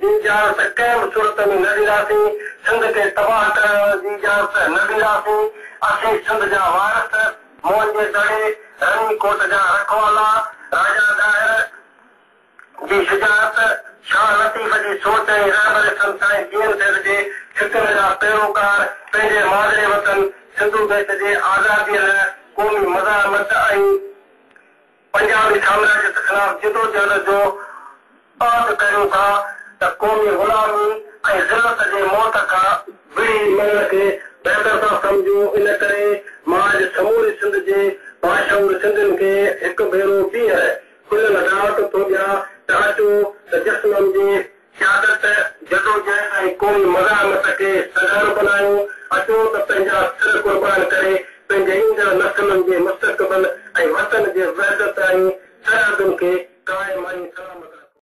جي اجازت ڪنهن به صورت ۾ نه ڏينداسين، سنڌ کي تباهه ڪرڻ جي اجازت نه ڏينداسين، اسين سنڌ جا وارث، موئن جي دڙي، رني ڪوٽ جا رکوالا، راجا ڏاهر جي شجاعت، شاهه لطيف جي سوچ ۽ رهبري سنڌ سائين جي اين سيد جي فڪرن جا پيروڪار، پنهنجي مادري وطن سنڌو ديش جي آزاديء لاء قومي مزاحمت ۽. پنجابي سامراجيت خلاف جدوجهد جو اعد ڪريون ٿا ته قومي غلامي ۽ ذلت جي موت کان وڙهي مرڻ کي بهتر ٿا سمجهون ان ڪري مان اڄ سموري سنڌ جي باشعور سنڌين کي هڪ ڀيرو ٻيهر کليل دعوت ٿو ڏيان ته اچو ته جسمم جي سيادت، جدوجهد ۽ قومي مزاحمت کي سگهارو بنايو، اچو ته پنهنجا سر قربان ڪري پنهنجي ايندڙ نسلن جي مستقبل ۽ وطن جي وحدت ۽ سرحدن کي قائم ۽ سلامت رکون.